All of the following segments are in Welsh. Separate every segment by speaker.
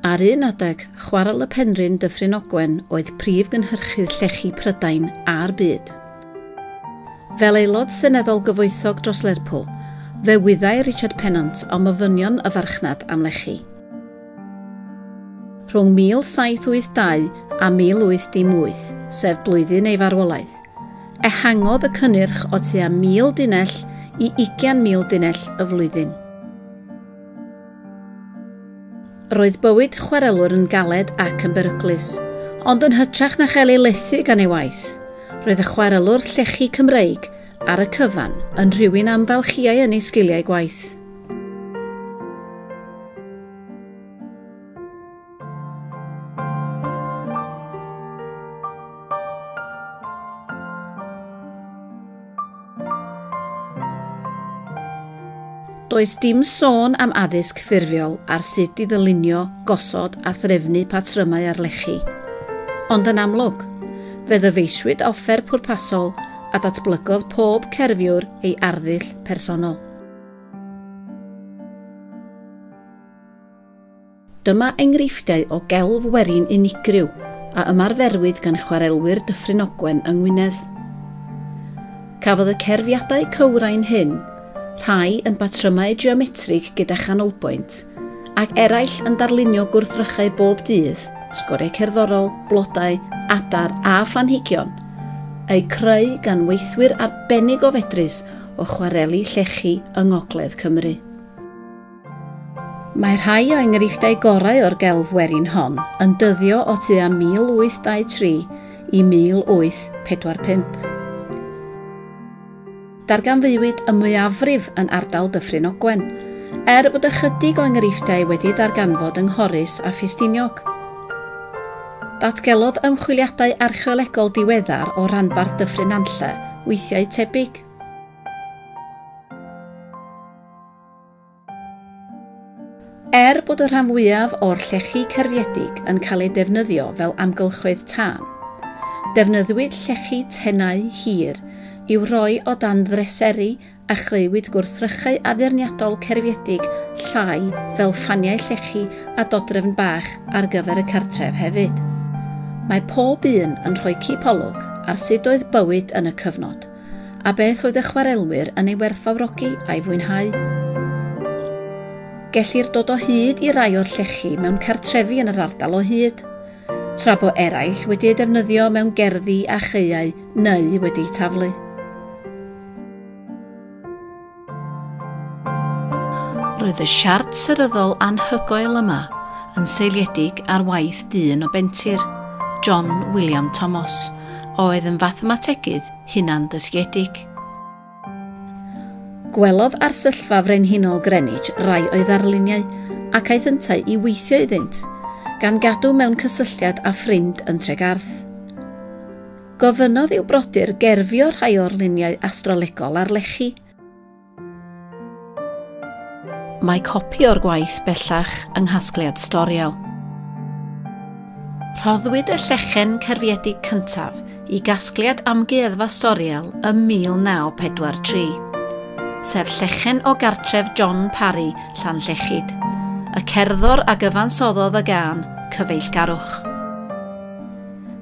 Speaker 1: Ar un adeg, Chwarel y Penrhyn Dyffryn Ogwen oedd prif gynhyrchydd llechi Prydain a'r byd. Fel aelod seneddol gyfoethog dros Lerpwl, fe wyddai Richard Pennant am ofynion y farchnad am lechi. Rhwng 1782 a 1818, sef blwyddyn ei farwolaeth, ehangodd y cynnyrch o tua 1,000 dunnell i ugian mil dunnell y flwyddyn. Roedd bywyd chwarelwr yn galed ac yn beryglus, ond yn hytrach na chael ei lethu gan ei waith, roedd y chwarelwr llechi Cymreig ar y cyfan yn rhywun amfalchiai yn ei sgiliau gwaith. Does dim sôn am addysg ffurfiol ar sut i ddylunio, gosod a threfnu patrymau ar lechi. Ond yn amlwg, fe ddyfeisiwyd offer pwrpasol a datblygodd pob cerfiwr ei arddull personol. Dyma enghreifftiau o gelf werin unigryw a ymarferwyd gan chwarelwyr Dyffryn Ogwen yng Ngwynedd. Cafodd y cerfiadau cywrain hyn, rhai yn batrymau geometrig gyda chanolbwynt, ac eraill yn darlunio gwrthrychau bob dydd, sgoriau cerddorol, blodau, adar a phlanhigion, eu creu gan weithwyr arbennig o fedrus o chwareli llechi yng ngogledd Cymru. Mae rhai o enghreifftiau gorau o'r gelf werin hon yn dyddio o tua 1823 i 1845. Darganfuwyd y mwyafrif yn ardal Dyffryn Ogwen, er bod ychydig o enghreifftiau wedi darganfod yng Nghorris a Ffestiniog. Datgelodd ymchwiliadau archeolegol diweddar o ranbarth Dyffryn Nantlle weithiau tebyg. Gymraeg. Er bod y rhan fwyaf o'r llechi cerfiedig yn cael eu defnyddio fel amgylchoedd tân, defnyddwyd llechi tenau hir i'w roi o dan ddreseri a chreuwyd gwrthrychau addurniadol cerfiedig llai fel ffaniau llechi a dodrefn bach ar gyfer y cartref hefyd. Mae pob un yn rhoi cipolwg ar sut oedd bywyd yn y cyfnod. Fflacid, a beth oedd y chwarelwyr yn ei werthfawrogi a'i fwynhau. Gellir dod o hyd i rai o'r llechi mewn cartrefi yn yr ardal o hyd, tra bo eraill wedi eu defnyddio mewn gerddi a chaeau neu wedi'u taflu. Roedd y siart seryddol anhygoel yma yn seiliedig ar waith dyn o Bentir, John William Thomas, oedd yn fathemategydd hunan-ddysgiedig. Gwelodd Arsyllfa Frenhinol Greenwich rai o'i ddarluniau ac aeth yntau i weithio iddynt, gan gadw mewn cysylltiad â ffrind yn Tregarth. Gofynnodd i'w brodyr gerfio rhai o'r luniau astrolegol ar lechi. Mae copi o'r gwaith bellach yng nghasgliad Storiel. Rhoddwyd y llechen cerfiedig cyntaf i gasgliad Amgueddfa Storiel ym 1943, sef llechen o gartref John Parry, Llanllechid, y cerddor a gyfansoddodd y gân Cyfeillgarwch.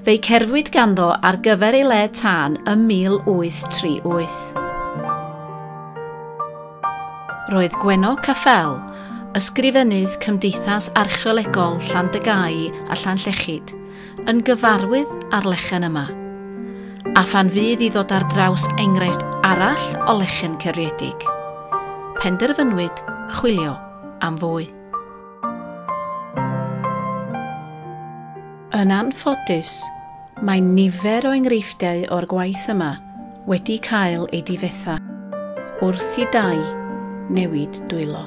Speaker 1: Fe'i cerfwyd ganddo ar gyfer ei le tân ym 1838. Roedd Gwenno Caffel, Ysgrifennydd Cymdeithas Archeolegol Llandygai a Llanllechid, yn gyfarwydd â'r lechen yma. A phan fydd i ddod ar draws enghraifft arall o lechen cerfiedig, penderfynwyd chwilio am fwy. Yn anffodus, mae nifer o enghreifftiau o'r gwaith yma wedi cael eu difetha wrth i dai newid dwylo.